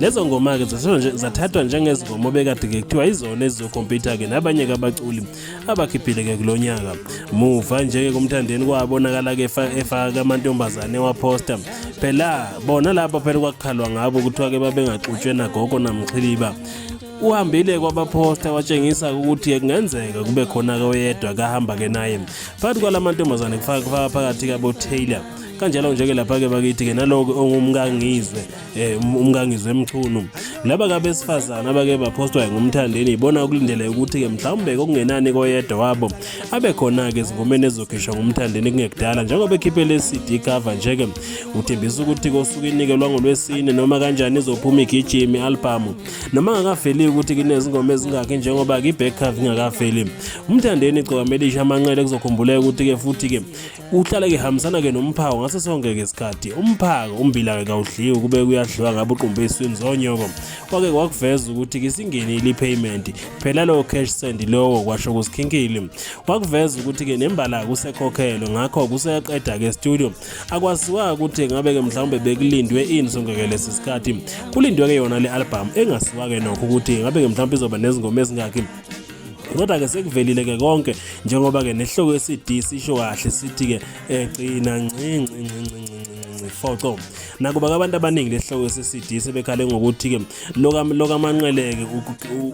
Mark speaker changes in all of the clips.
Speaker 1: lezo ngoma-ke zathathwa njengezingoma obekade-ke kuthiwa izona ezizokhompyutha-ke nabanye-ke abaculi abakhiphile-ke kulo nyaka muva nje-ke kumthandeni kwabonakala-ke efaka amantombazane ewaphosta phela bona laba phela kwakukhalwa ngabo kuthiwa-ke babengaxutshwe nagogo namxhiliba uhambile kwabaphosta watshengisa ukuthi kungenzeka kube khona-ke oyedwa kahamba-ke naye phakathi kwala mantombazane kufaka phakathi-ke abotaylor kanjalo nje-ke lapha-ke bakithi-ke naloke ongumkangizwe eh um, umkangizwe emchunu laba kabesifazana abake baphostwa ngumthandeni ibona ukulindele ukuthi ke mhlawumbe kokungenani koyedwa wabo abe khona ke izingomeni ezokhishwa ngumthandeni kungekudala njengoba ekhiphe le CD cover nje ke uthembisa ukuthi kosuku inikelwa ngolwesine noma kanjani izophuma igijimi album noma ngakaveli ukuthi kunezingoma ezingakhe njengoba ke back cover ingakaveli umthandeni igcokama elisha amanqele kuzokhumbuleka ukuthi ke futhi ke Uhlale ke hambisana ke nomphako ngaso sonke ke isikhathi. Umphako umbila ke kawudliwe kube kuyadliwa ngabe uqumbe iswini zonyoko. Kwake kwakuveza ukuthi ke singenile ipayment. Phela lo cash send lowo kwasho kusikhinkile. Kwakuveza ukuthi ke nembala kusekhokhelo ngakho kuseyaqeda ke studio. Akwaziwa ukuthi ngabe ke mhlawumbe bekulindwe ini sonke ke lesi sikhathi. Kulindwe ke yona le album engasiwa ke nokho ukuthi ngabe ke mhlawumbe izoba nezingoma ezingakhi. kodwa ke sekuvelile ke konke njengoba ke nehloko yeCD sisho kahle sithi ke egcina nci nci nci nci foco nakuba abantu abaningi lehloko seCD sebekhale ngokuthi ke loka lokamanqeleke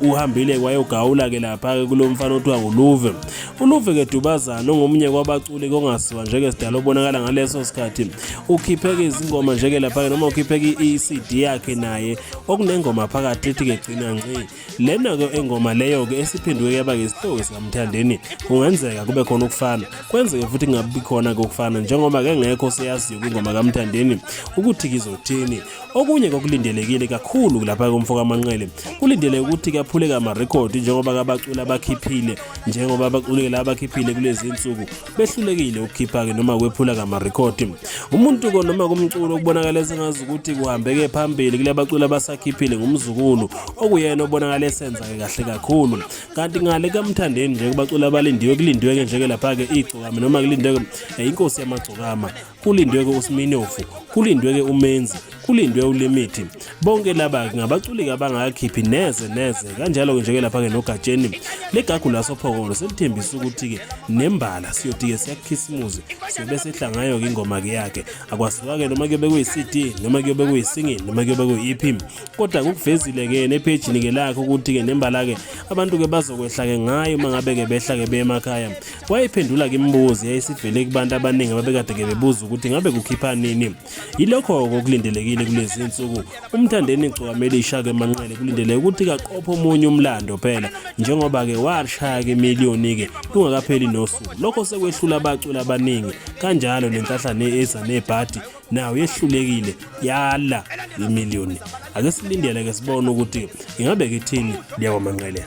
Speaker 1: uhambile wayogawula ke lapha ke kulomfana othiwa uLuve uLuve ke Dubazana ongomunye kwabaculi kongaziwa njeke sidalo obonakala ngaleso sikhathi ukhipheke izingoma njeke lapha noma ukhipheke iCD yakhe naye okunengoma phakathi ethi ke gcina nci lena ke engoma leyo ke esiphenduke yaba ngesihloko sikamthandeni kungenzeka kube khona ukufana kwenzeke futhi kungabi khona ke ukufana njengoba ke ngekho seyaziyo kwingoma kamthandeni ukuthi kizothini okunye kokulindelekile kakhulu lapha komfo kamanqele kulindele ukuthi kaphuleke amarekhodi njengoba kabaculi abakhiphile njengoba abaculi la abakhiphile kulezi nsuku behlulekile ukukhipha-ke noma kwephula kamarekhodi umuntu konoma kumculo okubonakala esengazi ukuthi kuhambeke phambili kule baculi abasakhiphile ngumzukulu okuyena obonakala esenza-ke kahle kakhulu kanti ngale kamthandeni nje kubaculi abalindiwe kulindiwe-ke nje-ke lapha-ke igcokama noma kulindwe-ke eh, inkosi yamagcokama kulindwe-ke usiminofu kulindwe-ke umenzi kulindwe ulimithi bonke laba ngabaculiki abangakhiphi neze neze kanjalo-ke njeke lapha-ke nogatsheni legagu lasophongolo selithembisa ukuthi-ke nembala siyothi-ke siyakhisimuzi siyobe sehla ngayo-ke ingoma-ke yakhe akwasuka-ke noma kuyobe kuyi-cd noma kuyobe kuyisingini noma kuyobe kuyi-ep kodwa kukuvezile ke nephejini ke lakhe ukuthi ke nembala ke abantu ke bazokwehla ke ngayo uma ngabe ke behla ke beye emakhaya wayephendula ke imibuzo yayisivele kubantu abaningi ababekade ke bebuza ukuthi ngabe kukhipha nini yilokho okulindelekile kulezi nsuku umthandeni gcwakamelisha ke manqele kulindele ukuthi kaqophe omunye umlando phela njengoba ke washaya ke miliyoni ke kungakapheli nosuku lokho sekwehlula abaculi abaningi kanjalo nenkahlane eza nebhadi nayo yehlulekile yala imiliyoni ake silindele ke sibone ukuthi ingabe kithini liyakwamanqelela